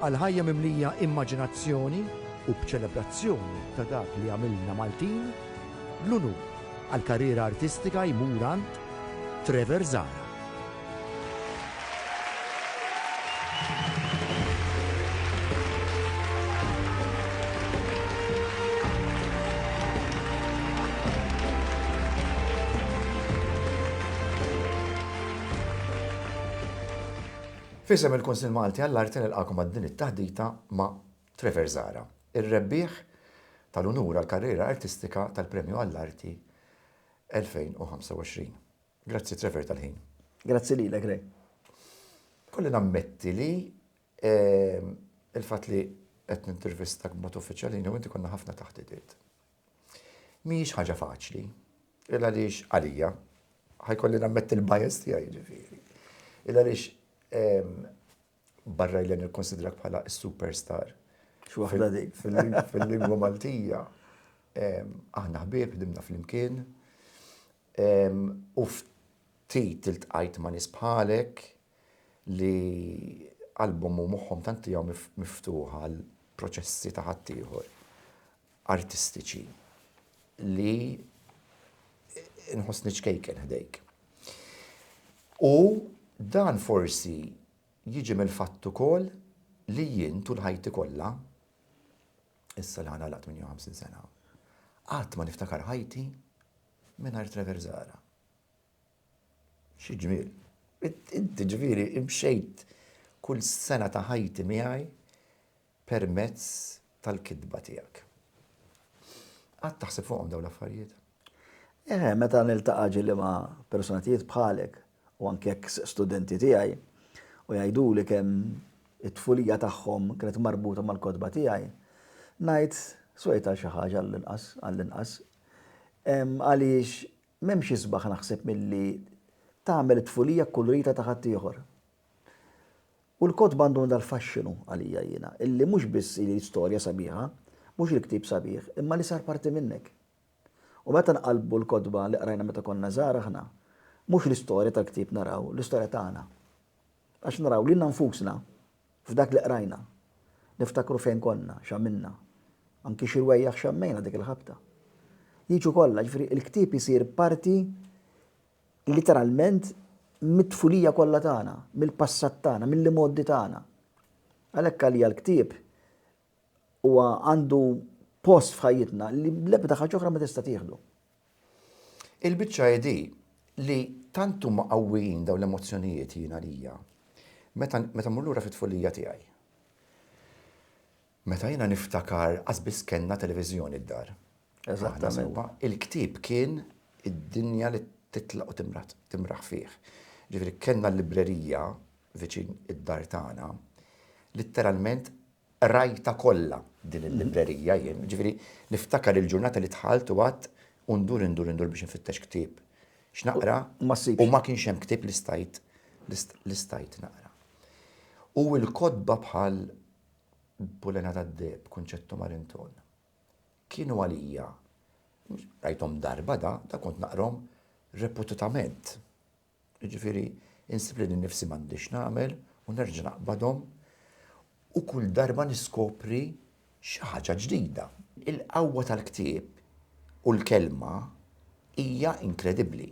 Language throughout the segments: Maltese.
Għal ħajja mimlija immaġinazzjoni u b'ċelebrazzjoni ta' dak li għamilna Maltin, l-unur għall-karriera artistika jmur għand Trevor Zahra. F'isem il-Kunsill Malti għall-Arti nilqagħkom għal din it-taħdita ma' Trevor Zahra, ir-rebbieħ tal-unur għall-karriera artistika tal-Premju għall-Arti 2025. Grazzi Trevor tal-ħin. Grazzi lilek Ray. Ikolli nammetti li il-fatt li qed nintervistak b'mod uffiċjali jiena u inti konna ħafna taħditiet. Mhijiex ħaġa faċli, il għaliex għalija, ħajkolli nammetti l-bias tiegħi ġifieri. Il għaliex ehm, barra jlen il-konsidrak bħala superstar. Xwaħda dik fil-lingwa Maltija. Ehm, aħna ħbieb, dimna fl-imkien. Ehm, u ftit il-tqajt ma nisbħalek li album u moħħom tanti għaw miftuħa l-proċessi ta' ħaddieħor. artistiċi li nħossni ċkejken ħdejk. U dan forsi jiġi mill-fatt ukoll li jien tul ħajti kollha issa li ħana laqt 58 sena. Qatt ma niftakar ħajti mingħajr Trevor Zara. Xi ġmiel. Inti ġifieri imxejt kull sena ta' ħajti miegħi permezz tal-kitba tiegħek. Qatt taħseb fuqhom dawn l-affarijiet? Eħe, meta niltaqa' ġieli ma' personatjiet bħalek u anke eks studenti tiegħi u jgħiduli kemm it-tfulija tagħhom kienet marbuta mal-kotba tiegħi, ngħid, swejt għal xi ħaġa għall-inqas, għall-inqas. Għaliex m'hemmx isbaħ naħseb milli tagħmel it-tfulija kkulurita ta' ħaddieħor. U l-kotba għandhom dal-faxxinu għalija jiena, illi mhux biss hi storja sabiħa, mhux il-ktieb sabiħ, imma li sar parti minnek. U meta nqallbu l-kotba li qrajna meta konna żgħar aħna, mhux l-istorja tal-ktieb naraw, l-istorja tagħna. Għax naraw lilna nfusna f'dak li qrajna. Niftakru fejn konna, x'għamilna. Anki xi rwejjaħ xammejna dik il-ħabta. Jiġu kollha, jiġifieri l-ktieb isir parti literalment mit-tfulija kollha tagħna, mill-passat tagħna, mill-imgħoddi tagħna. Għalhekk għalija l-ktieb huwa għandu post f'ħajjitna li l-ebda ħaġa oħra ma tista' tieħdu. Il-biċċa hi li tant huma qawwijin dawn l-emozzjonijiet jien għalija meta meta mmur lura fit-tfulija tiegħi. Meta jiena niftakar qas biss kellna televiżjoni d-dar. Aħna sewwa. Il-ktieb kien id-dinja li titlaq u timraħ fih. Ġifieri kellna l-librerija viċin id-dar tagħna. Litteralment qrajtha kollha din il-librerija jien. Ġifieri niftakar il-ġurnata li dħalt u qgħadt u ndur indur indur biex infittex ktieb x'naqra u ma kienx hemm ktieb li stajt li stajt naqra. U l-kotba bħal Bulena tad-Deheb, Concetto Marenton. Kienu għalija, rajthom darba da, da kont naqrahom reputatament. Jiġifieri insib lili nnifsi m'għandix nagħmel u nerġa' naqbadhom u kull darba niskopri xi ħaġa ġdida. Il-qawwa tal-ktieb u l-kelma hija inkredibbli.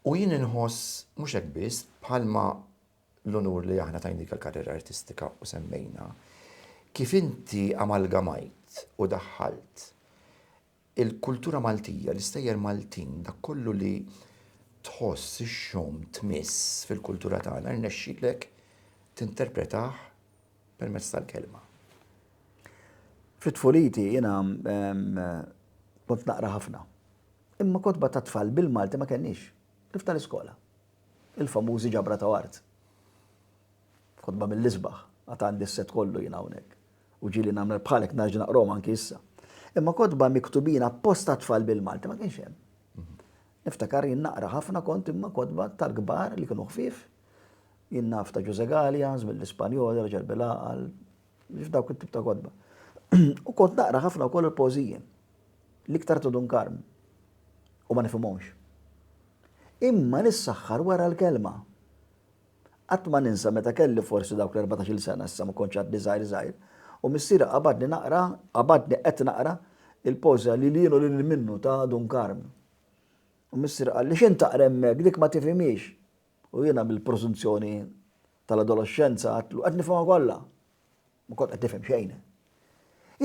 U jien inħoss mhux hekk biss, bħalma l-unur li aħna tajnika l-karriera artistika u semmejna kif inti amalgamajt u daħħalt il-kultura Maltija, l-istejjer Maltin, dak kollu li tħoss, ixxomm, tmiss fil-kultura tagħna, rnexxilek tinterpretah permezz tal-kelma. Fit-tfuliti jiena kont naqra ħafna. Imma kotba ta' tfal bil-Malti ma kenniex, kif tal-iskola. Il-famużi ġabra ta' art. Kotba mill-isbaħ. Għad għandi s-set kollu jien hawnhekk. U ġieli nagħmel bħalek narġa' naqrahom anki issa. Imma kotba miktubin appost għat-tfal bil-Malti ma kienx hemm. Niftakar jien naqra ħafna kont imma kotba tal-kbar li kienu ħfief. Jien naf ta' Ġużè Galea, żmien l-Ispanjoli, raġel bil-għaqal, Nix dawk it-tip ta' kotba. U kont naqra ħafna wkoll il-pożiji. L-iktar ta' Dun Karm. U ma nifhimhomx. Imma nissaħħar wara l-kelma. Qatt ma ninsa meta kelli forsi dawk l-erbatax-il sena, issa ma kontx għadni żgħir żgħir, u missieri qabadni naqra, qabadni qed naqra, il-pożja Lil Jien u Lil Minnu ta' Dun Karm. U missieri qalli, X'int taqra hemmhekk, dik ma tifhimhiex. U jiena mill-preżunzjoni tal-adoloxxenza għadtlu qed nifhimha kollha. Ma kont qed nifhem xejn.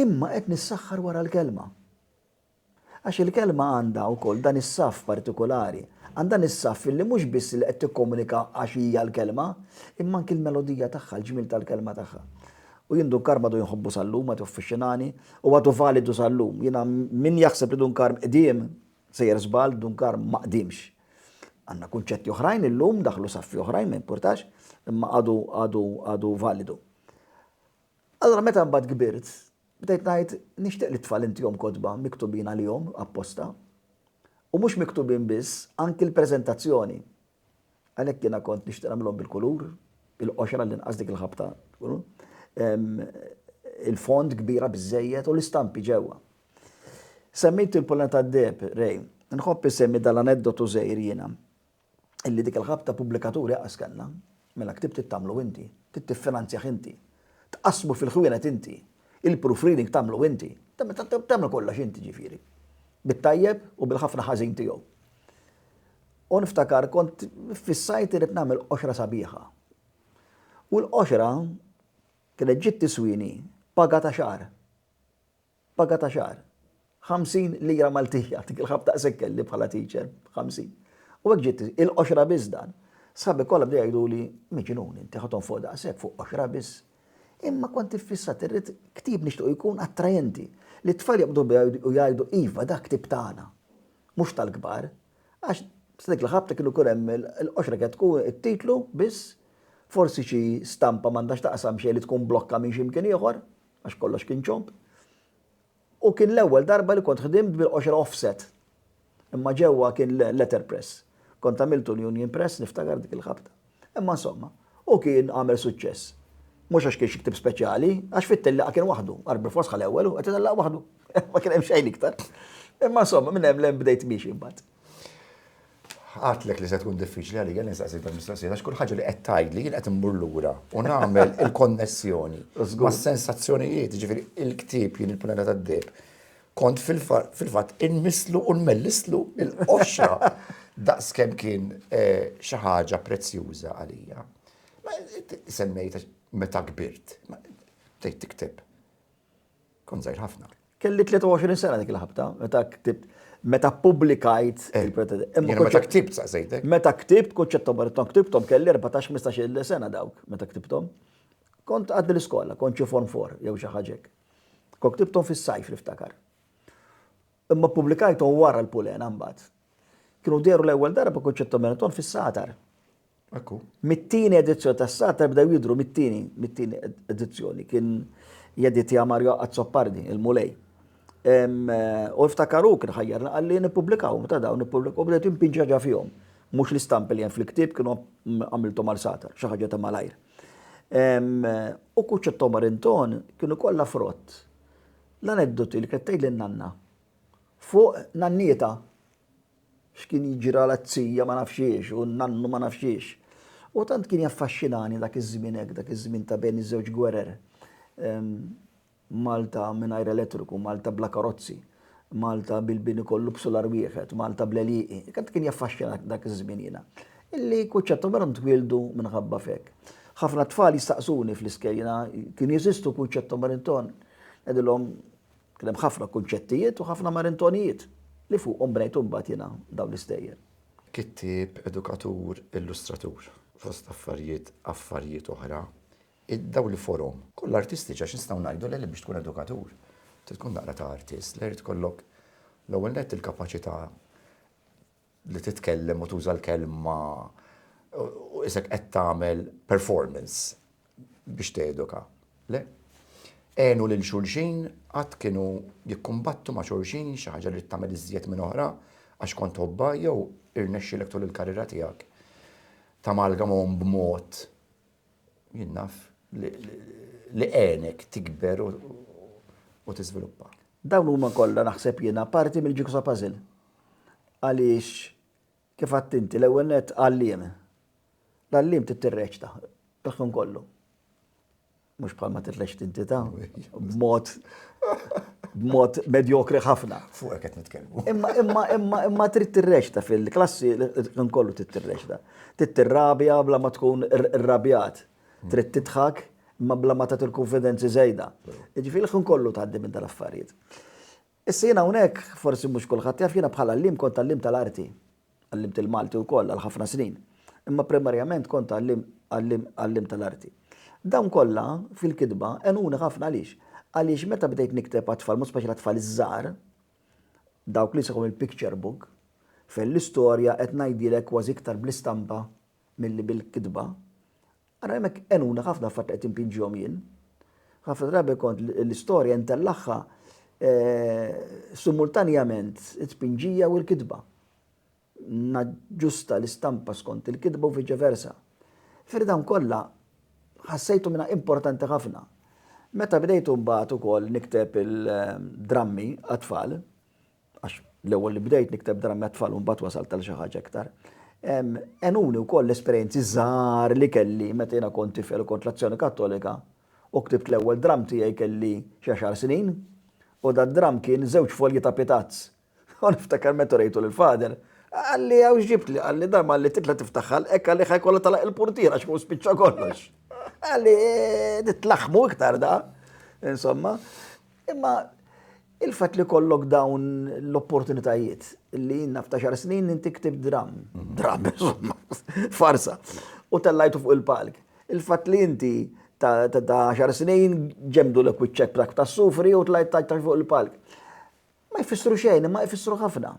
Imma qed nissaħħar wara l-kelma. Għax il-kelma għandha wkoll dan is-saff partikolari, għandha is-saff li mhux biss li qed tikkomunika għax hija l-kelma, imma anki l-melodija tagħha, l-ġmiel tal-kelma tagħha. U jien Dun Karm għadu jinħobbu sal-lum, għadu fixxinani, u għadu validu sal-lum. Jiena min jaħseb li Dun Karm qdiem, Sejjer żball, Duncar ma qdiemx. Għandna kunċetti oħrajn illum, daħlu saffi oħrajn, ma jimpurtax, imma għadu għadu għadu validu. Allura meta mbagħad kbirt, bdejt ngħid nixtieq li t-tfal intihom kotba miktubin għalihom apposta, u mhux miktubin biss, anki l-preżentazzjoni. Għalhekk jiena kont nixtieq nagħmilhom bil-kulur, il-qoxra għall-inqas dik il-ħabta tkun il-fond kbira biżżejjed u l-istampi ġewwa. Semmejt il-Pollena tad-Deheb, Ray. Nħobb insemmi dan l-aneddotu żgħir jiena, illi dik il-ħabta pubblikaturi qas kellna. Mela ktib trid tagħmlu inti, trid tiffinanzjah inti, tqassmu fil-ħwienet inti, il-proofreading tagħmlu inti, tagħmel kollox inti ġifieri. Bit-tajjeb u bil-ħafna ħażin tiegħu. U niftakar kont fissajt irid nagħmel qoxra sabiħa. U l-qoxra kienet ġiet tiswini paga ta' xahar. Paga ta' xahar, 50 lira Maltin, jagħtik il-ħabta daqshekk kelli bħala teacher, 50. U hekk ġiet il-qoxra biss dan. Sħabi kollha bdew jgħiduli, miġnun inti ħa tonfoq daqshekk fuq qoxra biss. Imma kont iffissat irrid ktieb nixtiequ jkun attrajenti, li t-tfal joqogħdu biha u jgħidu iva dak ktieb tagħna, mhux tal-kbar. Għax sa dik il-ħabta kienu jkun hemm il-qoxra kienet tkun it-titlu biss, forsi xi stampa m'għandha x'taqsam xejn li tkun blokka minn xi mkien ieħor. għax kollox kien ċomb, u kien l-ewwel darba li kont ħdimt bil-qoxra offset. Imma ġewwa kien letterpress. Kont għamiltu l-Union Press niftakar dik il-ħabta. Imma insomma, u kien għamel suċċess. Mhux għax kien xi ktieb speċjali, għax fit-tellieqa kien waħdu, għar bil-fors ħal ewwel u qed itellaq waħdu. Ma kien hemm xejn iktar. Imma insomma, minn hemm l-hemm bdejt miexi mbagħad. Għatlek li se tkun diffiċli għalija nistaqsi dan mistoqsija għax kull ħaġa li qed tgħidli jien qed immur lura u nagħmel il-konnessjoni mas-sensazzjonijiet, ġifieri il-ktieb jien il-Punella tad-Deheb. Kont fil-fatt inmisslu u nmellistlu l-qoxra daqs kemm kien eh, xi ħaġa prezzjuża għalija. Semmejt meta kbirt, tgħid tikteb. Kont żgħir ħafna. Kelli 23 sena dik il-ħabta, meta ktibt meta publikajt eh, il-pretendent. Meta ktibt saqsejtek? Meta ktibt, kont ċettom barton ktibtom, kelli 14-15 sena dawk, meta ktibtom. Kont għaddi l-iskola, kont ċi form for, jew xi ħaġek. Kont ktibtom fis-sajf niftakar. Imma ppubblikajthom wara l-Pulena mbagħad. Kienu dehru l-ewwel darba Concetto Benetton fis-Satar. Ekku. Mit-tieni edizzjoni tas-Satar bdew jidhru mit-tieni, mit-tieni edizzjoni kien jeditja Mario Azzopardi, il-Mulej. U iftakaru kien ħajjarna qalli nippubblikawhom ta' dawn nippubblikawhom bdejt impinġa ġa fihom. Mhux l-istampi li hemm fil-ktieb kienu għamilthom għal satar, xi ħaġa ta' malajr. U kuċċettom Arinton kienu kollha frott. L-aneddoti li kienet tgħidli n-nanna. Fuq nannietha. X'kien jiġri għal t-tija ma nafx xiex u n-nannu ma nafx xiex. U tant kien jaffaxxinani dak iż-żmien hekk, dak iż-żmien ta' bejn iż-żewġ gwerer. Malta mingħajr elettriku, Malta bla karozzi, Malta bil-bini kollu b'sular wieħed, Malta bl-għelieqi. Tant kien jaffaxxinani dak iż-żmien jiena. Illi kunċettom minnhom twieldu minħabba f'hekk. Ħafna tfal jistaqsuni fl-iskejjel, kien jeżistu kunċettom Barrington? Ngħidilhom kien hemm ħafna kunċettijiet u ħafna marintonijiet li fuqhom bnejt imbagħad jiena dawn l-istejjer. Kittieb, edukatur, illustratur. Fost affarijiet affarijiet oħra, id-dawl li forom. Kollha artistiċi għax nistgħu ngħidu li biex tkun edukatur trid tkun daqra ta' artist, li jrid ikollok l-ewwel nett il-kapaċità li titkellem u tuża l-kelma u isek qed tagħmel performance biex teduka. Le? Għenu lil xulxin, qatt kienu jikkumbattu ma' xulxin xi ħaġa li tagħmel iżjed minn oħra għax kont tħobba jew irnexxilek tul il-karriera tiegħek tamalgamhom b'mod Jien naf li għenek tikber u tiżviluppa. Dawn huma kollha naħseb jiena parti mill-jigsaw puzzle. Għaliex kif għedt inti l-ewwel nett għalliem. L-għalliem trid tirreċta l-ħin kollu. Mhux bħal ma tirreċti inti ta' b'mod b'mod medjokri ħafna. Fuq qed nitkellmu. Imma imma imma imma trid tirreċta fil-klassi l-ħin kollu trid tirreċta. Trid tirrabja bla ma tkun irrabjat. Trid tidħak imma bla ma tagħti l-kunfidenzi żejda. Jiġifieri l-ħin kollu tgħaddi minn dal-affarijiet. Issa jiena hawnhekk, forsi mhux kulħadd jaf, jiena bħala għalliem kont għalliem tal-arti. Għallimt il-Malti wkoll għal ħafna snin. Imma primarjament kont għalliem għalliem għalliem tal-arti. Dawn kollha fil-kitba għenuni ħafna għaliex? Għaliex meta bdejt nikteb għat-tfal, mod speċjali għat-tfal iż-żgħar, Dawk li sħu mill-picture book, fejn l-istorja qed ngħidilek kważi iktar bl-istampa milli bil-kitba. Ara hemmhekk għenuna ħafna l-fatt li qed inpinġihom jien. Ħafna drabi kont l-istorja ntellagħha eh, simultanjament it-tpinġija u l-kitba. naġġusta l-istampa skont il-kitba u viċe versa. Fir dawn kollha ħassejtu minnha importanti ħafna. Meta bdejtu mbagħad ukoll nikteb il-drammi għat-tfal, għax l-ewwel li bdejt nikteb drammi għat-tfal u mbagħad wasalt għal xi ħaġa iktar, għenuni wkoll l-esperjenzi żgħar li kelli meta jiena kont tifel u kont l-Azzjoni Kattolika u ktibt l-ewwel dramm tiegħi kelli xi għaxar snin u dad-dramm kien żewġ folji ta' pitazz U niftakar meta urejtu lill-Father, qalli hawn x'ġibtli, qalli dan malli titla' tiftaħ ħalq hekk qalli ħa jkollha tagħlaq il-purtiera għax hu spiċċa kollox. Qalli tlaħħmu iktar da, insomma. Imma il-fatt li kollok dawn l-opportunitajiet li naf ta' xar snin inti ktib dram, mhm. dram, insomma, farsa, u tellajtu fuq il-palk. Il-fatt li inti ta' xar snin ġemdu l-ekwiċċek ta' sufri u tlajt ta' fuq il-palk. Ma jfissru xejn, imma jfissru ħafna.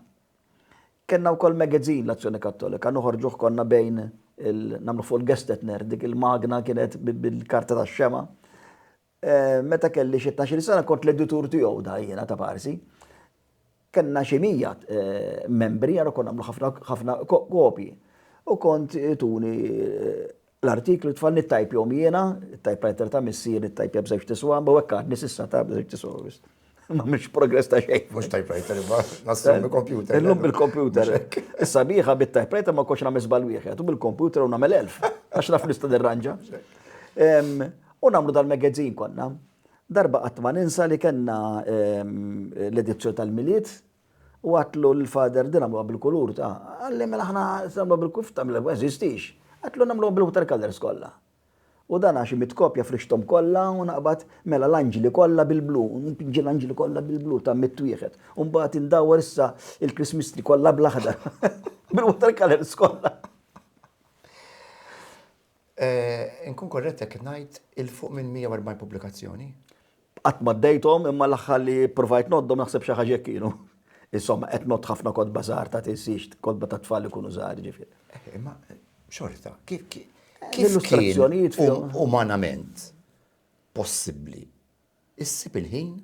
Kellna wkoll magazine l-Azzjoni Kattolika, noħorġuh konna bejn il nagħmlu fuq il-Gestetner, dik il-magna kienet bil-karta tax-xemgħa. Meta kelli xi tnax-il sena kont l-editur tiegħu da jiena ta' parsi. Kellna xi mija membri, allura konna nagħmlu ħafna kopji. U kont ituni L-artiklu tfal nittajpjhom jiena, it-tajpwriter ta' missieri ttajpja b'żewġ tiswam, u hekk għadni s'issa ta' b'żewġ tiswam. Ma mhix progress ta' xejn. Mhux tajpwriter imma nassum bil-kompjuter. Illum bil-kompjuter. Is-sabiħa bit-tajpwriter ma kontx nagħmel żball wieħed u bil-kompjuter u nagħmel elf għax naf nista' nirranġa. U nagħmlu dal-magazine konna. Darba qatt ma ninsa li kellna l-edizzjoni tal-Milied U għadtlu l-father din għamluha bil-kulur ta' qalli mela aħna se nagħmluha bil-kulur ta' ma jeżistix. Għadtlu nagħmluha bil-water colours kollha. U dan għax imitt kopja frixthom kollha u naqbad mela l-anġli kollha bil-blu, npinġi l-anġli kollha bil-blu ta' mitt wieħed. U mbagħad indawwar issa il-Christmas tree kollha bl-aħdar bil-water colours kollha. Inkun korrett jekk ngħid 'il fuq minn 140 pubblikazzjoni? Qatt ma għaddejthom imma l-aħħar li ppruvajt ngħoddhom naħseb xi ħaġa hekk kienu. Insomma, qed ngħodd ħafna kotba żgħar ta' tinsiex, kotba tat-tfal li jkunu żgħar, jiġifieri. Imma xorta, kif kien l-illustrazzjonijiet umanament possibbli issib il-ħin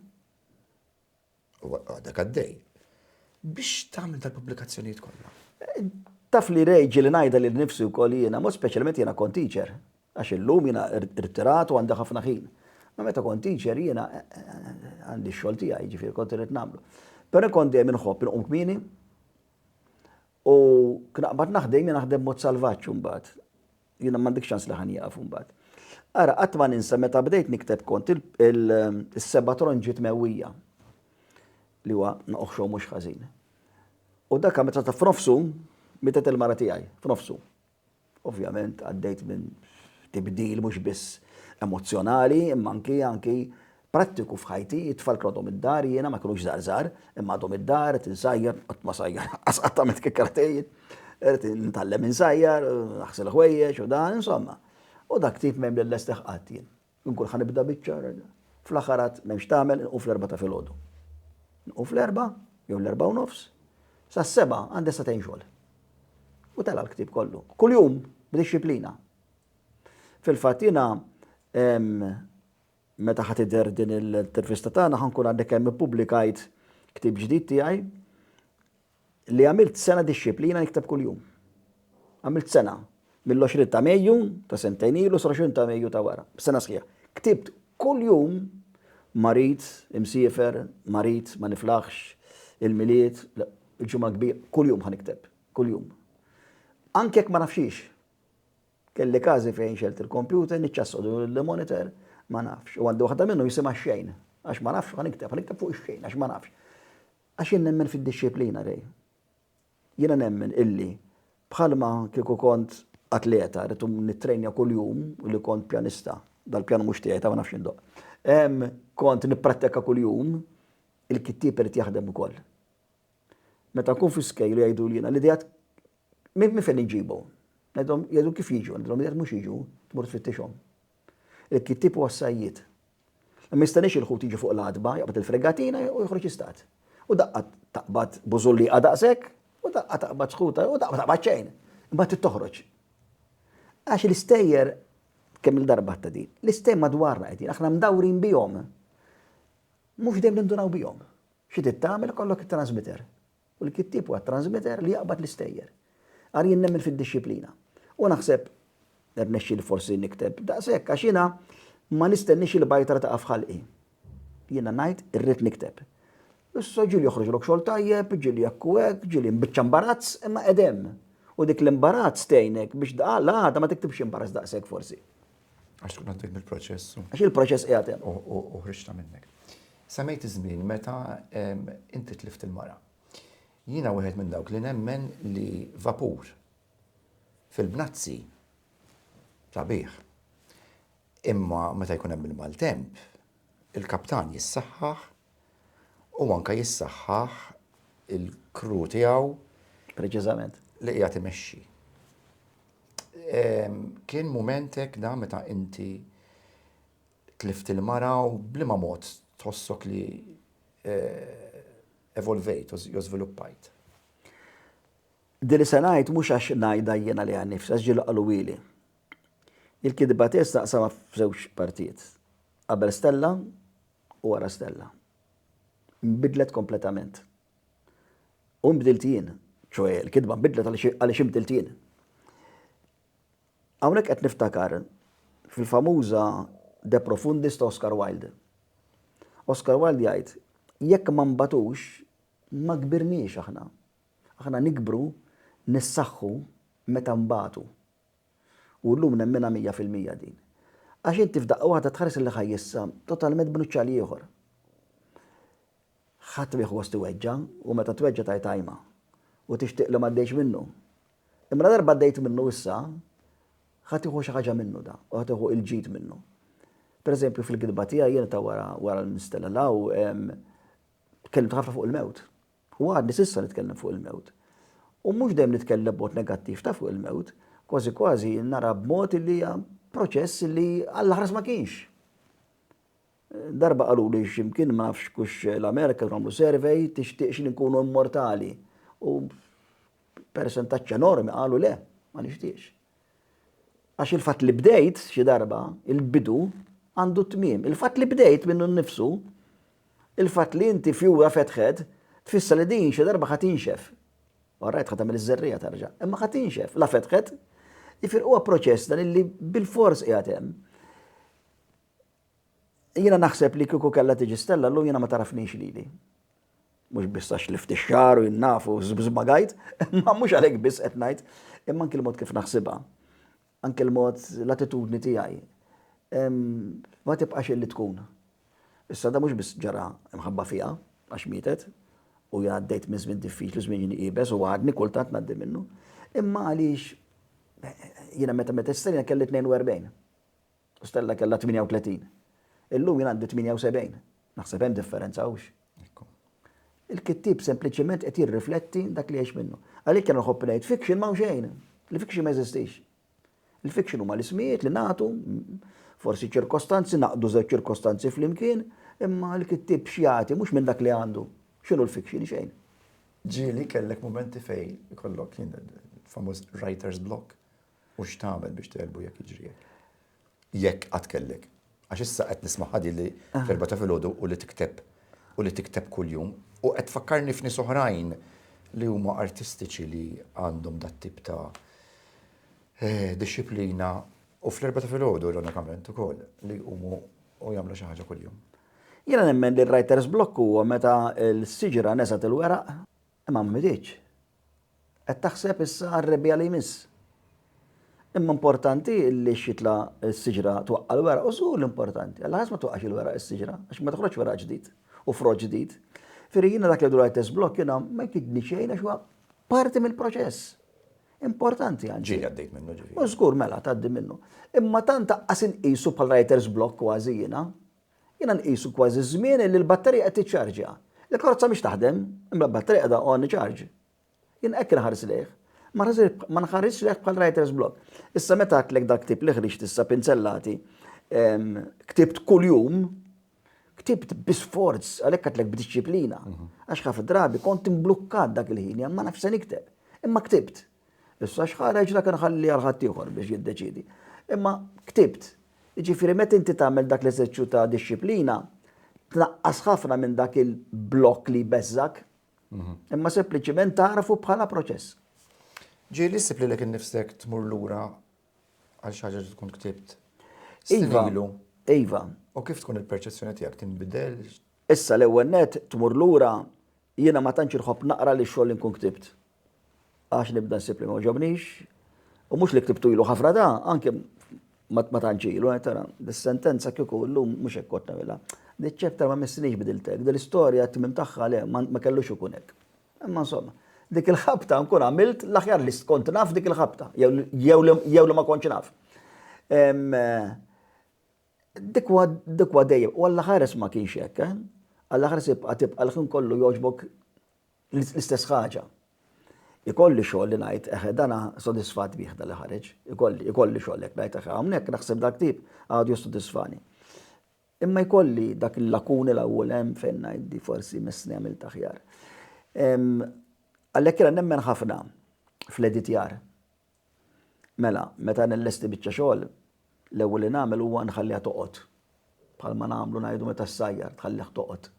u għadek għaddej, biex tagħmel dal-pubblikazzjonijiet kollha? Taf li Ray, ġieli ngħidha lil nifsi wkoll jiena, mod speċjalment jiena kont teacher, għax illum jiena rtirat u għandi ħafna ħin. Ma meta kont teacher jiena għandi x-xogħol tiegħi, jiġifieri kont irid nagħmlu. Però kont dejjem inħobb inqum kmieni u knaqbad naħdem jiena naħdem mod salvaġġ imbagħad. Jiena m'għandek ċans li ħa nieqaf imbagħad. Ara, qatt ma ninsa meta bdejt nikteb kont is-seba' tronġiet mewwija li huwa noqxu mhux ħażin. U dak meta ta' f'nofsu mietet il-mara tiegħi, f'nofsu. Ovvjament għaddejt minn tibdil mhux biss emozzjonali, imma anki anki prattiku f'ħajti, it-tfal kienu għadhom id-dar, jiena ma kinux żgħar żgħar, imma għadhom id-dar, qed insajjar, qatt ma sajjar, qatt qatt għamilt kif kera tgħid, qed nitgħallem insajjar, naħsel ħwejjeġ u dan, insomma. U dak tip m'hemm li lestih qatt jien. Inkun ħanibda biċċa, fl-aħħar għad m'hemmx tagħmel, nqum fl-erba' ta' filgħodu. Nqum fl-erba' jew l-erba' u nofs, sa seba' għandi sa tgħin xogħol. U tela l-ktieb kollu. Kuljum b'dixxiplina. Fil-fatt jiena Meta ħa tidher din l-intervista tagħna ħa nkun għadni kemm ippubblikajt ktieb ġdid tiegħi li għamilt sena dixxiplina nikteb kuljum. Għamilt sena mill-20 ta' Mejju ta' sentejn ilu sa 20 ta' Mejju ta' wara, sena sħiħa. Ktibt kuljum marid, imsiefer, marid, ma niflaħx, il-Milied, il-Ġimgħa Kbira, kuljum ħa nikteb, kuljum. Anke jekk ma nafx xiex. Kelli każi fejn xegħelt il-kompjuter, niċċassodlu lill-monitor, ma nafx. U għandi waħda minnhom jisimha x-xejn. Għax ma nafx, ħa nikteb, ħa nikteb fuq ix-xejn, għax ma nafx. Għax jien nemmen fid-dixxiplina, Ray. Jiena nemmen illi bħalma kieku kont atleta, rrid nittrejnja kuljum, u li kont pjanista, dal-pjanu mhux tiegħi, ta' ma nafx x'indoqq, kont nipprattika kuljum, il-kittieb irid jaħdem ukoll. Meta nkun fi skejjel u jgħiduli jiena, l-ideat Minn fejn iġġibu? Ngħidilhom jgħidu kif jiġu, ngħidilhom jekk mhux jiġu, tmur tfittixhom. Il-kittieb huwa s-sajjied. Ma jistenniex il-ħut jiġi fuq l-għatba, jaqbad il-fregatina u joħroġ jistad. U daqqa taqbad bużulliqa daqshekk, u daqqa taqbad sħuta, u daqqa ma taqbad xejn. Imbagħad trid toħroġ. Għax l-istejjer, kemm il-darba ta' din, l-istejjer madwarna qegħdin, aħna mdawrin bihom. Mhux dejjem nindunaw bihom. Xi trid tagħmel ikollok it-transmitter. U l-kittieb huwa t-transmitter li jaqbad l-istejjer. Għal jien nemmen fid-dixxiplina. U naħseb irnexxieli forsi nikteb daqshekk għax jiena ma nistenniex il-bajtra taqa' f'ħalqi. Jiena ngħid irrid nikteb. Issa ġieli joħroġlok xogħol tajjeb, ġieli hekk u hekk, ġieli mbiċċa mbarazz, imma qegħed hemm. U dik l-imbarazz tgħinek biex l-għada ma tiktibx imbarazz daqshekk forsi. Għax tkun għaddej mill-proċess. Għax il-proċess qiegħed hemm. U ħriġta minnek. Semmejt iż-żmien meta inti tlift il-mara. Jiena wieħed minn dawk li nemmen li vapur fil-bnazzi sabiħ. Imma meta jkun hemm il-maltemp, il-kaptan jissaħħaħ u anke jissaħħaħ il-crew tiegħu Preċiżament. li qiegħed imexxi. Ehm, Kien mument hekk da meta inti tlift il-mara u bliema mod tħossok li eh, evolvejt u jew żviluppajt. Din li se ngħid mhux għax ngħidha jiena li għannifsi, għax ġieli qalulili. Il-kidba tiegħi staqsama f'żewġ partijiet. Qabel Stella, u ara stella. Nbidlet kompletament. U nbdilt jien, ċoe l-kitba nbidlet għaliex inbdilt jien. Hawnhekk qed niftakar fil-famuża De Profundis ta' Oscar Wilde. Oscar Wilde jgħid, jekk ma nbatux, ma kbirniex aħna. Aħna nikbru, nissaħħu meta nbatu. U llum nemminha mija fil-mija din. Għax inti f'daqqa waħda tħares lejh ħaj issa, totalment b'nuċċal ieħor. Ħadd m'iħu gost iweġġa', u meta tweġġa' tgħid ajma. U tixtieq li m'għaddejtx minnu. Imma ladarba għaddejt minnu issa, ħa tieħu xi ħaġa minnu da, u ħa tieħu il-ġid minnu. Pereżempju fil-gidba tiegħi jien ta' wara wara l-Mistella Law, tkellimt ħafna fuq il-mewt. U għadni s'issa nitkellem fuq il-mewt. U mhux dejjem nitkellem b'mod negattiv ta' fuq il-mewt, kważi kważi nara b'mod illi hija proċess illi għall-aħras ma kienx. Darba qaluli x'imkien ma nafx kux l-Amerika kienu għamlu survey tixtieqx li nkunu immortali. U persentaġġ enormi qalu le, ma nixtieqx. Għax il-fatt li bdejt, xi darba, il-bidu għandu t-tmiem. Il-fatt li bdejt minnu nnifsu, il-fatt li inti fjura fetħet, tfisser li din xi darba ħa tinxef. Orajt ħa tagħmel iż-żerriegħa terġa', imma ħa tinxef. La fetħet, jifieri huwa proċess dan illi bilfors qiegħed hemm. Jiena naħseb li kieku kellha tiġi Stella llum jiena ma tagħrafnix lili. Mhux biss għax lift ix-xagħar u jien naf u żbagħajt, imma mhux għalhekk biss qed ngħid, imma anki l-mod kif naħsibha, anki l-mod l-attitudni tiegħi. Ma tibqax illi tkun. Issa da mhux biss ġara mħabba fiha għax mietet, u jien għaddejt minn żmien diffiċli, żmien iebes u għadni kultant ngħaddi minnu. Imma għaliex jiena meta meta s kelli 42. Stella kellha 38. Illum jien għandi 78. Naħseb hemm differenza, hux? Il-kittieb sempliċiment qed jirrifletti dak li jgħix minnu. Għalhekk jien nħobb ngħid fiction m'hawn xejn. Il-fiction ma jeżistix. Il-fiction huma l-ismijiet li nagħtu, forsi ċirkostanzi, naqdu żewġ ċirkostanzi flimkien, imma l-kittieb x'jagħti mhux minn dak li għandu. X'inhu l-fiction xejn? Ġieli kellek momenti fej kollok famuż writer's block U x'tagħmel biex tegħlbu jekk jiġri hekk? Jekk qatt kellek. Għax issa qed nisma' ħadi li fl-erbgħa ta' filgħodu u li tikteb u li tikteb kuljum u qed tfakkarni f'nies oħrajn li huma artistiċi li għandhom dat-tip ta' dixxiplina u fl-erbgħa ta' filgħodu ironikament ukoll li jqumu u jagħmlu xi ħaġa kuljum. Jiena nemmen li r-writer's block huwa meta l-siġra neżgħet il-weraq. Imma mridx. Qed taħseb issa għar-rebbiegħa li jmiss. Imma importanti li x-xitla s-siġra twaqqa' l-weraq u żgur li importanti. Għal ħaż ma twaqqax il-weraq is-siġra għax ma toħroġx weraq ġdid u frott ġdid. Firri jiena dak li għidu l-ITS block jiena ma jkidni xejn għax huwa parti mill-proċess. Importanti għandi. Ġieli għaddejt minnu ġifieri. U żgur mela tgħaddi minnu. Imma tant aqqas inqisu bħal writer's block kważi jiena. Jiena nqisu kważi żmien illi l-batterija qed tiċċarġja. Il-karozza mhix taħdem, imbla batterija qiegħda on charge. Jien hekk inħares lejh. Ma nħarisx lejh bħal writer's block. Issa meta għedtlek dal-ktieb li ħriġt issa Pinzellati, ktibt kuljum, ktibt bi sforz, għalhekk għedtlek b'dixxiplina, għax ħafna drabi kont imblukkat dak il-ħin, ma nafx se nikteb. Imma ktibt. Issa x'ħareġ dak inħalli għal ħaddieħor biex jiddeċiedi. Imma ktibt, jiġifieri meta inti tagħmel dak l-eżerċju ta' dixxiplina, tnaqqas ħafna minn dak il-blokk li jbeżżak, mhm. imma sempliċiment tagħrafu bħala proċess. Ġieli li ssib lilek innifsek tmur lura għal xi ħaġa li tkun ktibt. Iva, iva. U kif tkun il-perċezzjoni tiegħek tinbidel? Issa l-ewwel net tmur lura jiena ma tantx irħobb naqra li xogħol inkun ktibt. għax nibda nsib li ma għoġobnix, u mhux li ktibtu ilu ħafna da, anke ma tantx ilu, eh, tara, dis-sentenza kieku llum mhux hekk kont nagħmilha. Diċ-chapter ma missinix bidilt hekk, dil-istorja t-tmiem tagħha le ma kellux ikun hekk. Imma insomma, dik il-ħabta nkun għamilt l-aħjar li kont naf dik il-ħabta, jew li ma kontx naf. Eh, dikwa dejjem, u għall-ħares ma kienx hekk, eh? għall-ħares tibqa' tibqa' l-ħin kollu jogħġbok L-istess ħaġa. Ikolli xogħol li ngħid, eħe, dan sodisfatt bih dan li ħareġ. Ikolli, ikolli xogħol hekk ngħid, eħe, hawnhekk naħseb dal-ktieb għadu jissodisfani. Imma jkolli dak il-lakuni l-ewwel hemm fejn ngħid di forsi missni għamilt aħjar. Għalhekk jiena nemmen ħafna fl-editjar Mela, meta nillesti biċċa xogħol, l-ewwel li nagħmel huwa nħalliha toqgħod. Bħalma nagħmlu ngħidu meta ssajjar, tħallih toqgħod.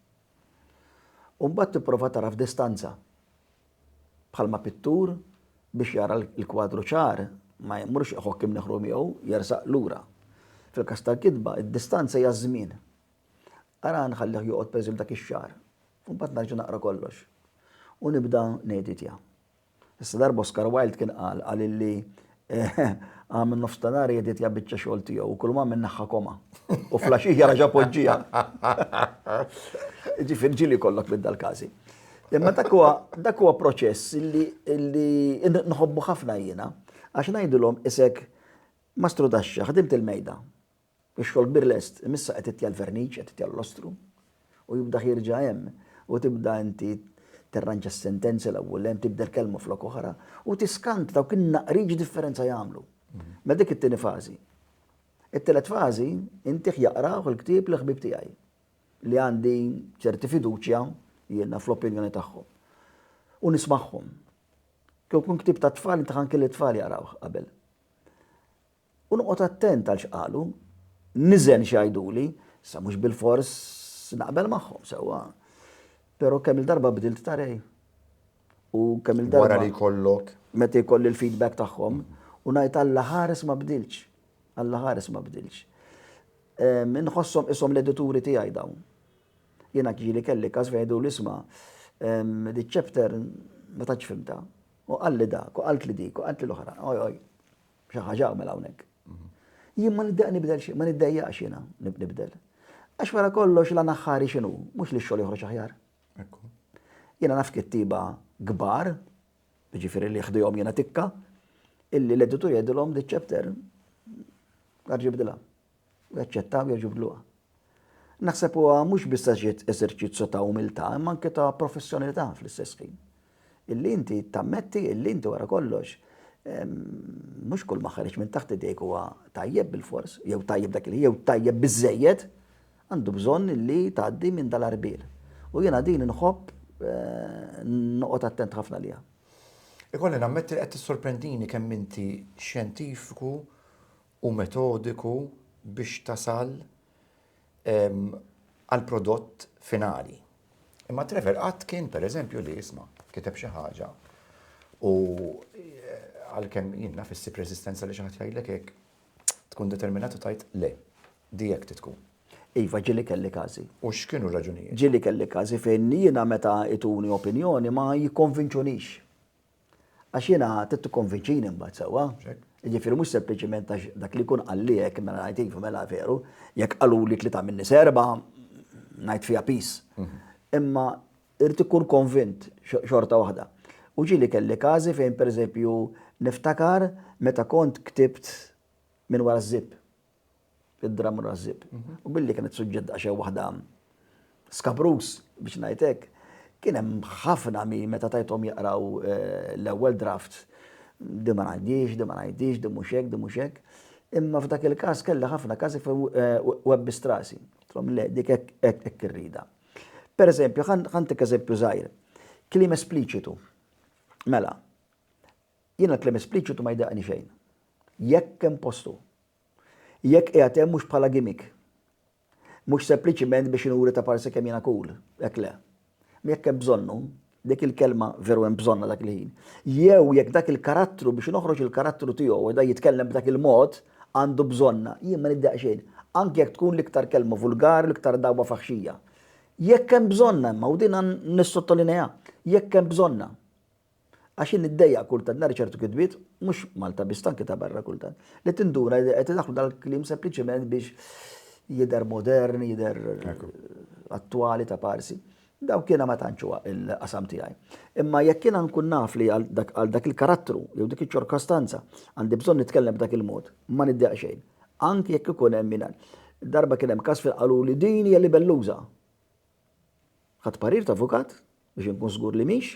U mbagħad tipprova tara f'distanza. Bħalma pittur biex jara l-kwadru ċar ma jmurx iħokk imneħru miegħu, jersaq lura. Fil-każ tal-kitba, id-distanza hija ż-żmien. Ara nħallih joqgħod pereżempju dak ix-xahar, u mbagħad nerġa' naqra kollox. U nibda ngħeditja. Issa darba Oscar Wilde kien qal, qal illi Għam in-nofs ta' nhar jeditja biċċa xogħol tiegħu u kull ma minn naħħa koma. U flaxija raġa' poġġiha. Ġifier ġili kollok minn dal-każi. Imma dak huwa dak huwa proċess illi illi nħobbu ħafna jiena għax ngħidilhom isek ma strudaxxa, ħdimt il-mejda. Ix-xogħol kbir lest, imissa qed titja' l-verniċ, qed titja' l-lostru, u jibdah jerġa' hemm, u tibda inti tirranġa s-sentenzi l-ewwel hemm, tibdel kelma flok oħra, u tiskanta dawk in-naqriet x'differenza jagħmlu. Mela dik it-tieni fażi. It-tielet fażi, intih jaqrawh il-ktieb l-ħbieb tiegħi, li għandi ċerti fiduċja jiena fl-opinjoni tagħhom, u nismagħhom. Kieku jkun ktieb tat-tfal, intih anki lit-tfal jaqrawh qabel. U noqgħod attent għal x'qalu. Niżen x'jgħiduli. Issa mhux bilfors naqbel magħhom sewwa. Però kemm-il darba bdilt ta' rej. U kemm-il darba. Wara li jkollok. Meta jkolli l-feedback tagħhom u ngħid Alla ħares ma bdiltx. Alla ħares ma bdiltx. Inħosshom qishom l-edituri tiegħi dawn. Jiena ġieli kelli każ fejn jgħiduli isma' dik chapter ma tantx fhimtha. U qalli dak, u qaltli dik, u qaltli l-oħra. Oj, oj. Xi ħaġa għamel hawnhekk. Jien ma niddeq nibdel xi, ma niddejjaqx jiena nibdel. Għax wara kollox la naħħari x'inhu, mhux li x-xogħol joħroġ aħjar. Jiena naf kittiba kbar, ġifieri li ħdihom jiena tikka, illi l-editur jgħidilhom di ċepter, għarġi bdilha. u jaċċettaw jiġu fdluqa. Naħseb huwa mhux biss għax eżerċizzju ta' umiltà imma anke ta' professjonilità fl-istess ħin. Illi inti tammetti illi inti wara kollox mhux kull ma ħareġ minn taħt idejk huwa tajjeb bil-fors, jew tajjeb dak li jew tajjeb biżejjed, għandu bżonn li tgħaddi minn dal-arbir. U jiena din inħobb eh, noqgħod attent ħafna liha. Ikolli nammetti li qed tissorprendini kemm inti xjentifiku u metodiku biex tasal għall-prodott finali. Imma Trevor qatt kien, per eżempju, li isma' kiteb xi ħaġa u għalkemm jien naf issib reżistenza li xi ħadd jgħidlek hekk, tkun determinat u tgħid le, di hekk trid tkun. Iva, ġieli kelli każi. U x'kienu r-raġunijiet? Ġieli kelli każi fejn jiena meta jtuni opinjoni ma jikkonvinċunix. Għax jiena trid tikkonvinċini mbagħad sewwa. Jiġifieri mhux sempliċiment għax dak li jkun qalliek mela ngħid iva mela veru, jekk qaluli tlieta minni serba ngħid fiha pis. Mhm. Imma irid ikun konvint xorta waħda. U ġieli kelli każi fejn pereżempju niftakar meta kont ktibt minn wara żib. id-dramm rażżib. U billi kienet suġġett daqsxejn waħda skabruż biex ngħid hekk, kien hemm ħafna min meta tajthom jaqraw eh, l-ewwel draft di ma ngħaddix, di ma ngħaddix, di mhux hekk, di mhux hekk. Imma f'dak il-każ kellha ħafna każi fejn eh, webbi strasi. Trom le, dik hekk irrida. Per eżempju, ħantik eżempju żgħir, kliem espliċitu. Mela, Jiena l-kliem espliċitu ma jdaqqni xejn. Jekk hemm postu. Jekk qiegħed hemm mhux bħala gimmick. Mhux sempliċiment biex inuri ta' parsi kemm jiena cool. Hekk le. Imma jekk hemm bżonnu, dik il-kelma veru hemm bżonnha dak il-ħin. Jew jekk dak il-karattru biex noħroġ il-karattru tiegħu u da jitkellem b'dak il-mod, għandu bżonnha, jien ma niddaqq xejn. Anki jekk tkun l-iktar kelma vulgari, l-iktar dagħwa faħxija. Jekk hemm bżonnha imma, u din nissottolinejha, jekk hemm bżonnha. Għax jien niddejjaq kultant nara ċertu kitbiet, mhux Malta biss, anke ta' barra kultant, li tinduna li qed idaħħlu dal-kliem sempliċement biex jidher modern, jidher attwali ta' parsi. Dawk jiena ma tantx huwa l-qasam tiegħi. Imma jekk jiena nkun naf li għal dak il-karattru jew dik iċ-ċirkostanza għandi bżonn nitkellem b'dak il-mod, ma niddejjaq xejn. Anke jekk ikun hemm min darba kien hemm każ fejn qaluli din hija libelluża. Ħadt parir ta' avukat Biex inkun żgur li mhix,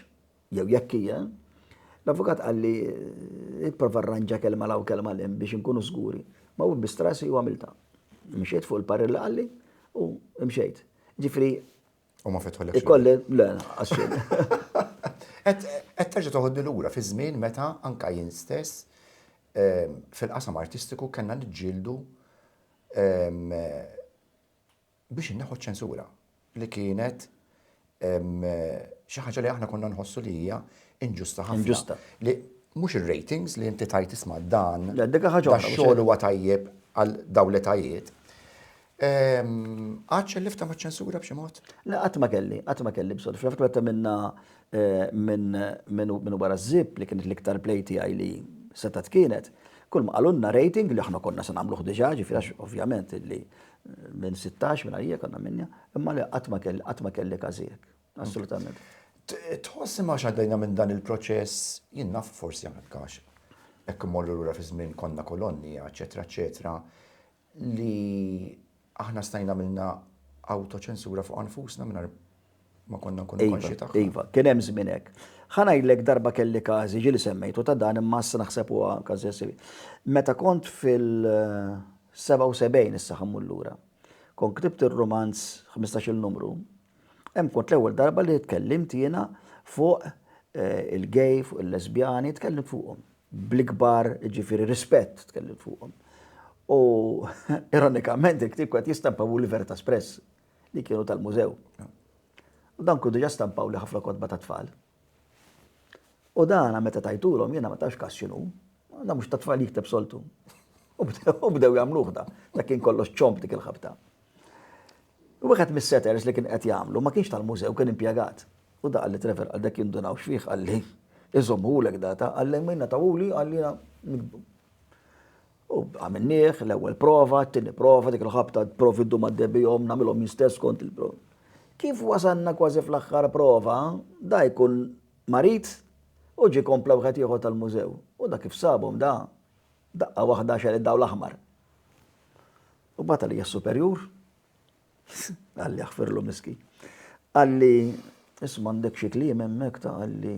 jew jekk hija, l-avukat qal li pprova rranġa kelma 'l hawn kelma 'l hemm biex inkunu żguri. Ma wibbist rasi u għamiltha. Mxiet fuq il-parir li qalli u mxejt. Ġifieri. U ma fetħulekx. Ikolli, le, lanqas xejn. Qed terġa' toħodni lura fi żmien meta anke jien stess fil-qasam artistiku kellna niġġieldu biex inneħħu ċ-ċensura li kienet xi ħaġa li aħna konna nħossu li hija inġusta ħafna. Inġusta. Li mhux ir-ratings li inti tajt isma' dan. Le, dik ħaġa oħra. Xogħol huwa tajjeb għal dawn l-etajiet. Għadx il-lifta ma' ċensura b'xi mod? Le, qatt ma kelli, qatt ma kelli b'sod. Fl-fatt meta minna eh, minn wara żib li kienet l-iktar play tiegħi li setat kienet, kull ma qalunna rating li aħna konna se nagħmluh diġà, ġifieri ovvjament li Minn sittax minn għajjek għandna minja, imma le qatt ma kelli każijiek. Assolutament. Tħoss imma għax għaddejna minn dan il-proċess, jien naf forsi għandek għax hekk immorru lura fi żmien konna kolonni, eċetera, eċetera, li aħna stajna għamilna awtoċensura fuq nfusna mingħajr ma konna nkunu iva, konxi tagħha. Iva, kien hemm żmien hekk. Ħanajlek darba kelli każi ġieli semmejtu ta' dan imma issa naħseb huwa każi jessibi. Meta kont fil-77 issa ħammur lura. Kont ktibt ir-romanz 15-il numru. Hemm kont l-ewwel darba li tkellimt jiena fuq eh, il-gay, fuq il-lesbjani, tkellimt fuqhom. Bl-ikbar, ġifieri rispett tkellimt fuqhom. U ironikament il-ktib kwet jistampa u l-Verta Espress. li kienu tal-mużew. U dan kun diġa stampaw li ħafna kotba ta' tfal. U dana meta tajtulhom jiena ma tafx kas x'inhu, da mhux ta' tfal jikteb soltu. U bdew jagħmluh da, da kien kollox ċomp dik il-ħabta. U wieħed mis-setters li kien qed jagħmlu ma kienx tal-mużew, kien impjegat. U da qalli Trevor għal dak jindunaw x'fih qalli, iżommhulek data, qalli minna tawuli qalli U għamilnieh, l-ewwel prova, t-tieni prova, dik il-ħabta provi ddum għaddej bihom, nagħmilhom jien stess skont il-prova. Kif wasalna kważi fl-aħħar prova, da jkun marid u ġie kompla wieħed ieħor tal-mużew. U da kif sabhom da, daqqa waħda xered dawl aħmar. U bata li superjur, għalli aħfirlu miski. Għalli, isma' għandek xi kliem hemmhekk ta' għalli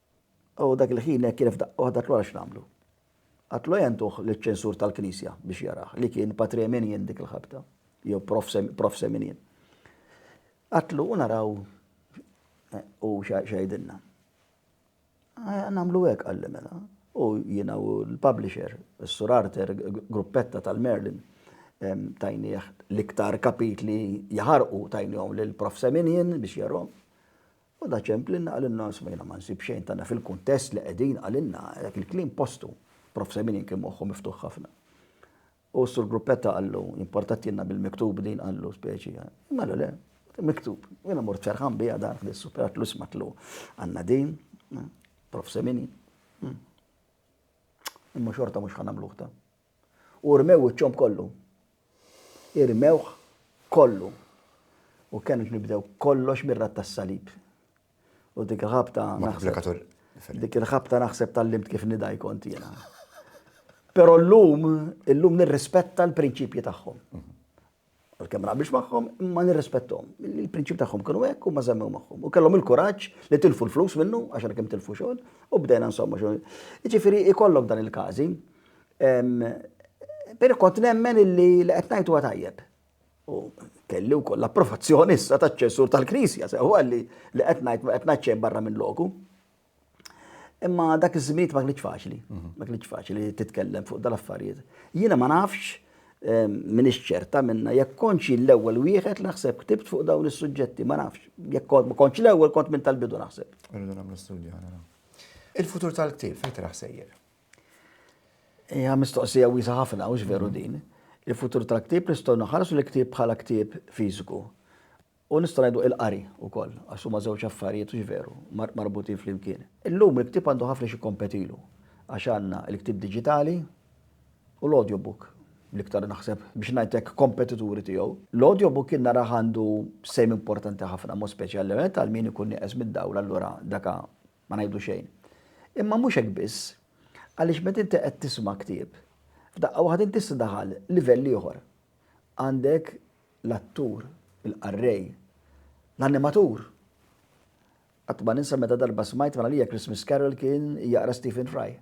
U dak il-ħin hekk kien f'daqqa waħda qatlu għalax nagħmlu. Qatlu ejja ntuh liċ-ċensur tal-Knisja biex jarah, li kien Patrè Minien dik il-ħabta, jew Profse Minien. Qatlu u naraw hu x'għidilna. Ejja nagħmlu hekk qalli mela. U jiena u l-publisher, is-Sur Arthur Gruppetta tal-Merlin, tajnieh l-iktar kapitli jaħarqu tajnihom lill-Profse Minien biex jarahom. U da ċemplinna qalilna isma' jiena ma nsib xejn tagħna fil-kuntest li qegħdin qalilna dak il-kliem postu. Prof. Seminin kien moħħu miftuħ ħafna. U s-Sur Gruppetta qallu, importattilna bil-miktub din qallu speċi. Imma qallu le, miktub. U jiena mort ferħan biha dan ħdis super għatlu isma' għatlu għandna din, Prof. Seminin. Imma xorta mhux ħanamluħ ta. U rmew wiċċhom kollu. Irmewh kollu. U kenux nibdew kollox mir-rat tas-salib. U dik il-ħabta naħseb. Dik il-ħabta naħseb tal-limt kif nidaj kont jiena. Pero l-lum, l-lum nirrispetta l-prinċipji tagħhom. Mhm. Għalkemm naqbilx magħhom, imma nirrispetthom. Il-prinċipji tagħhom kienu hekk u ma żemmew magħhom. U kellhom il-kuraġġ li tilfu l-flus minnu, għax għalkemm tilfu xogħol, u bdejna insomma xogħol. Jiġifieri ikollok dan il-każi. Però kont nemmen illi li qed ngħid huwa tajjeb. U kelli wkoll l-approvazzjoni issa taċ-ċensur tal-Knisja, sew għalli li qed ngħid qed ngħid xejn barra minn loku. Imma dak iż-żminijiet ma kienx faċli, ma kienx faċli titkellem fuq dal-affarijiet. Jiena ma nafx ehm, minn ċerta minna jekk konċi l-ewwel wieħed naħseb ktibt fuq dawn is-suġġetti, ma nafx. Jekk kont ma konċi l-ewwel kont minn tal-bidu naħseb. Irridu nagħmlu studju għana. Il-futur tal-ktieb fejn traħ sejjer? Hija mistoqsija wiesa ħafna u veru din. Il-futur tal-ktieb nistgħu naħarsu l-ktieb bħala ktieb fiżiku. U nistgħu ngħidu il-qari wkoll, għax huma żewġ affarijiet, hux veru, marbutin flimkien. Illum il-ktieb għandu ħafna x'jikkompetilu, għax għandna l-ktieb diġitali u l-audiobook, l-iktar naħseb biex ngħid hekk kompetituri tiegħu. L-audiobook jien narah għandu sehem importanti ħafna, mod speċjalment għal min ikun nieqes mid-dawl allura daka ma ngħidu xejn. Imma mhux hekk biss, għaliex meta inti qed tisma' ktieb, f'daqqa waħda inti issa daħal livell ieħor. Għandek l-attur, il-qarrej, l-animatur. Qatt ma ninsa meta darba smajt minn għalija Christmas Carol kien jaqra Stephen Fry.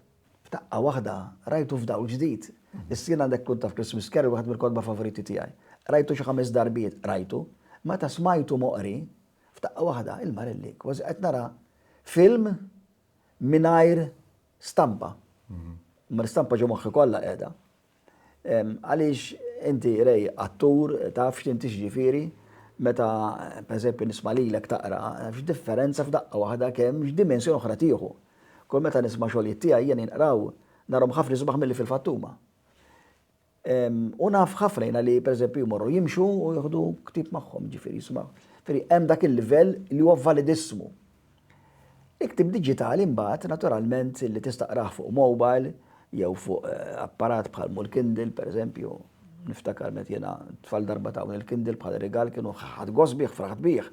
F'daqqa waħda rajtu f'dawl ġdid. Issa jien għandek tkun taf Christmas Carol waħed mill-kotba favoriti tiegħi. Rajtu xi ħames darbiet, rajtu. Meta smajtu moqri, f'daqqa waħda, il-marelli, kważi qed nara film mingħajr stampa. Ma l-istampa ġo moħħi kollha qiegħda. Għaliex inti Ray attur taf x'inti x'ġifieri meta pereżempju nisma' lilek taqra, x'differenza f'daqqa waħda kemm x'dimensjoni oħra tieħu. Kull meta nisma' xogħlijiet tiegħi jien jinqraw narhom ħafna isbaħ milli fil-fatt huma. U naf ħafna jiena li pereżempju jmorru jimxu u jieħdu ktieb magħhom, jiġifieri jismgħu. Jiġifieri hemm dak il-livell li huwa validissmu. Il-ktieb diġitali mbagħad naturalment li tista' qrah fuq mobile jew fuq eh, apparat bħal mul Kindle pereżempju. Niftakar met jiena tfal darba tawni l-Kindle bħal rigal kienu ħadd gost bih, fraħt bih.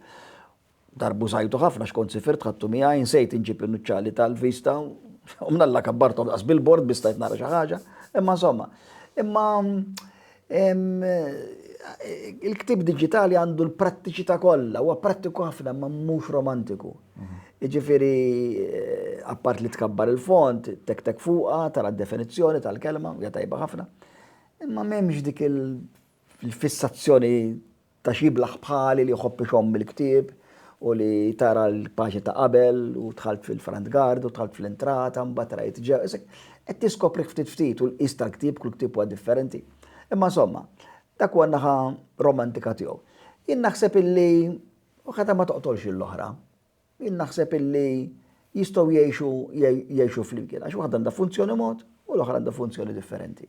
Darbu żajtu ħafna xkont sifirt ħadtu miegħi nsejt inġib in-nuċċali tal-vista u mnalla kabbartom daqs bil-bord bistajt nara xi ħaġa. Imma insomma, imma Il-ktieb diġitali għandu l-prattiċità kollha, huwa prattiku ħafna ma mhux romantiku. Jiġifieri appart li tkabbar il-font, tek tek fuqha, tara d-definizzjoni tal-kelma, hija tajba ħafna. Imma m'hemmx dik il-fissazzjoni Ta' x'jiblaħ bħali li jħobb ixomm mill-ktieb u li tara l-paġni ta' qabel u dħalt fil-front guard u dħalt fl-entrata mbagħad rajt ġew. Qed tiskoprih ftit ftit u l-qies tal-ktieb kull ktieb huwa differenti. Imma insomma, dak huwa n-naħa romantika tiegħu. Jien naħseb illi waħda ma toqtolx lill-oħra. Jien naħseb illi jistgħu jgħixu jgħixu flimkien għax waħda għandha funzjoni mod u l-oħra għandha funzjoni differenti.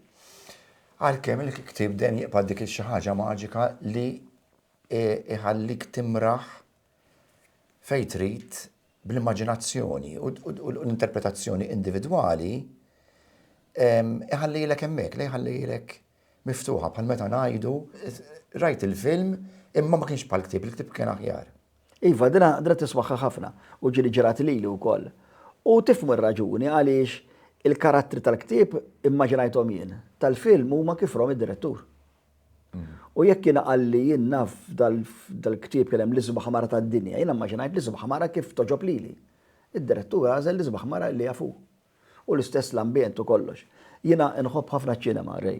Għalkemm il-ktieb dejjem jibqa' dik xi ħaġa maġika li iħallik timraħ fejn trid bl-immaġinazzjoni u l-interpretazzjoni individwali iħallilek hemmhekk, li jħallilek Miftuħa, bħal meta ngħidu, rajt il-film imma ma kienx bħall-ktieb, il-ktieb kien aħjar. Iva, din għaqdra tiswaħħaħ ħafna u ġieli ġrat lili wkoll. U tifhmu r-raġuni għaliex il-karattri tal-ktieb immaġinajthom jien, tal-film huma kif rom id-direttur. U jekk jiena qalli jien naf dal-ktieb kien hemm l-isbaħ mara tad-dinja, jiena mmaġinajt l-isbaħ mara kif togħġob lili. Id-direttur għażel l-isbaħ mara li jaf hu. u l-istess l-ambjent u kollox. Jiena nħobb ħafna ċ-ċinema, Ray.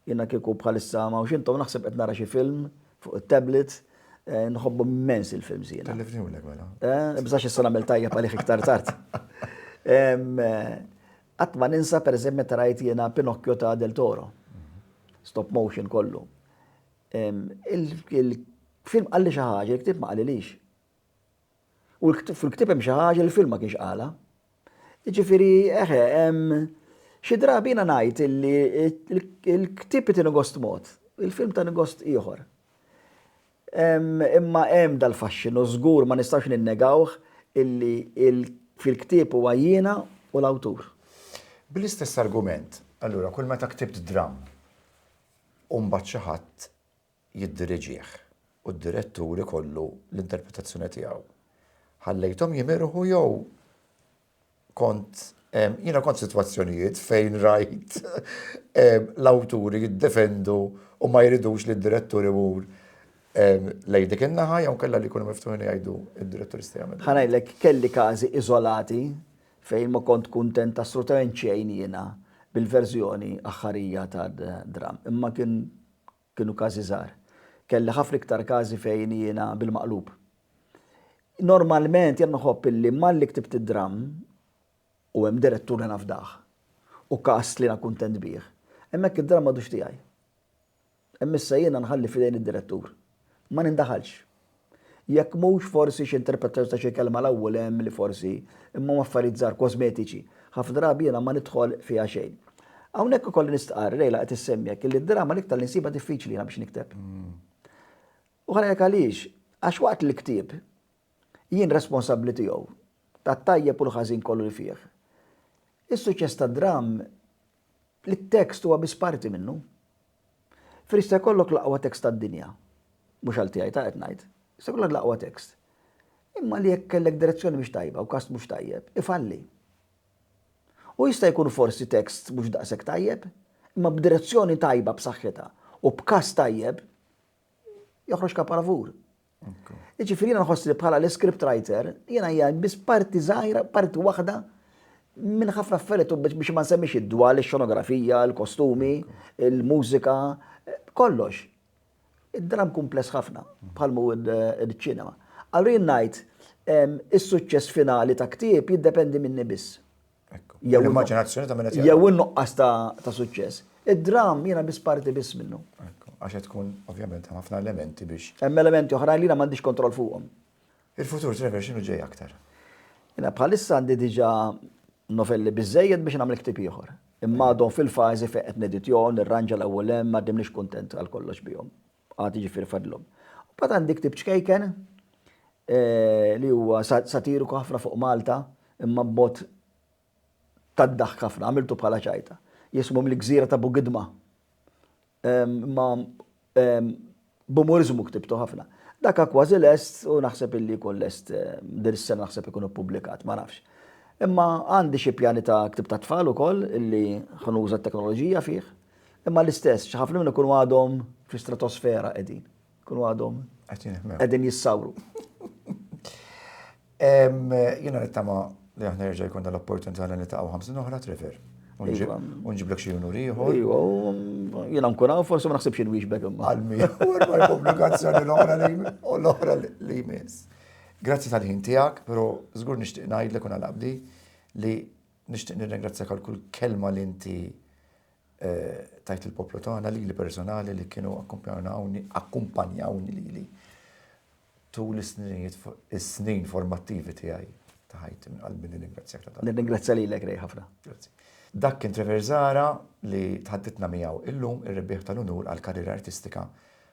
Jiena kieku bħalissa ma hawnx intom naħseb qed nara xi film fuq it-tablet, nħobbhom immens il-films jiena. Tellifni ulek mela. Bżax issa nagħmel tajjeb għalih iktar tard. Qatt ma ninsa pereżempju meta rajt jiena Pinocchio ta' Del Toro. Stop motion kollu. Il-film qalli xi ħaġa, il-ktieb ma qalilix. U fil-ktieb hemm xi ħaġa li l-film ma kienx qalha. Jiġifieri eħe, xi drabi jiena ngħid illi l-ktieb iti gost mod, il-film tani gost ieħor. Imma hemm dal-faxxinu żgur ma nistgħux ninnegawh illi fil-ktieb huwa jiena u l-awtur. Bl-istess argument, allura kull meta ktibt dramm u mbagħad xi ħadd jiddiriġih u d-direttur ikollu l-interpretazzjoni tiegħu. Ħallejthom jimirħu jew kont jiena kont f'sitwazzjonijiet fejn rajt l-awturi jiddefendu u ma jridux li d-direttur imur lejn dik in-naħa jew kellha li jkunu miftuħin jgħidu d-direttur jista' jagħmel. Ħa ngħidlek kelli każi iżolati fejn ma kont kuntent assolutament xejn jiena bil-verżjoni aħħarija tad-dramm. Imma kien Kienu każi żgħar. Kelli ħafna iktar każi fejn jiena bil-maqlub. Normalment jien nħobb illi malli ktibt id-dramm u hemm direttur li nafdah u cast li jiena kuntent bih, hemmhekk id-dramm m'għadux tiegħi. Hemm issa jiena nħalli f'idejn id-direttur. Ma nindaħalx. Jekk mhux, forsi xi interpretazzjoni ta' xi kelma 'l hawn u 'l hemm li forsi, imma huma affarijiet żgħar, kosmetiċi. Ħafna drabi jiena ma nidħol fiha xejn. Hawnhekk ikolli nistqarr, Leila qed issemmi hekk, illi d-drama l-iktar li nsibha diffiċli jiena biex nikteb. U ħa ngħidlek għaliex, għax waqt li l-ktieb jien responsabbli tiegħu, tat-tajjeb u l-ħażin kollu li fih, is-suċċess tad-dram li t-tekst huwa biss parti minnu. Fir jista' jkollok l-aqwa tekst tad-dinja, mhux għal tiegħi ta' qed ngħid, jista' jkollok l-aqwa tekst, imma li jekk kellek direzzjoni mhix tajba u kast mhux tajjeb, ifalli. U jista' jkun forsi tekst mhux daqshekk tajjeb, imma b'direzzjoni tajba b'saħħitha u b'kast tajjeb, joħroġ kaparavur. Jiġifieri jiena nħoss li bħala l-script writer jiena hija biss parti żgħira, parti waħda minn ħafna affarijiet biex ma nsemmix id-dwal, ix-xonografija, il-kostumi, il-mużika, kollox. Id-dram kumpless ħafna bħal mu id-ċinema. Allura jien ngħid is-suċċess finali ta' ktieb jiddependi minni biss. Jew l-immaġinazzjoni ta' minn qed Jew in-nuqqas ta' suċċess. Id-dram jiena biss parti biss minnu. Għax qed tkun ovvjament ħafna elementi biex. Hemm elementi oħrajn li ma m'għandix kontroll fuqhom. Il-futur Trevor x'inhu ġej aktar? Jiena bħalissa għandi diġà novelli biżejjed biex nagħmel ktieb ieħor. Imma għadhom fil-fażi fejn qed neditjhom, nirranġa l-ewwel hemm, m'għaddimniex kuntent għal kollox bihom. Għad jiġifieri fadlhom. Mbagħad għandi ktieb ċkejken li huwa satiriku ħafna fuq Malta imma b'mod tad-daħk ħafna, għamiltu bħala ċajta. Jismu mill-gżira ta' Bugidma. Imma b'umuriżmu ktibtu ħafna. Daka kważi lest u naħseb illi jkun lest din is-sena naħseb ikun ippubblikat, ma nafx. Imma għandi xi pjani ta' ktib tat-tfal ukoll illi ħanuża t-teknoloġija fih. Imma l-istess, xi ħafna minnhom ikunu għadhom fl-istratosfera qegħdin. Ikunu għadhom qegħdin jissawru. Jiena nittama li aħna jerġa' jkun dal-opportunità li nitaqgħu ħamsin oħra Trevor. Iva. Unġiblek xi unur ieħor. Iva, jiena nkun hawn forsi ma naħsibx inwieġbek imma. Għalmi, u l-pubblikazzjoni l-oħra li u l-oħra li jmiss. Grazzi tal-ħin tiegħek, però żgur nixtieq ngħidlek u nalabdi li Nixtieq nirringrazzjak għal kull kelma li inti tajt il-poplu tagħna lili personali li kienu akkumpanjawni akkumpanjawni lili tul is-sninijiet is-snin formattivi tiegħi ta' ħajti minn qalbi nirringrazzjak ta' dan. Nirringrazzja lilek rej ħafna. Grazzi. Dak kien Trevor Zara li tħaddidna miegħu illum ir-rebbieħ tal-unur għall-karriera artistika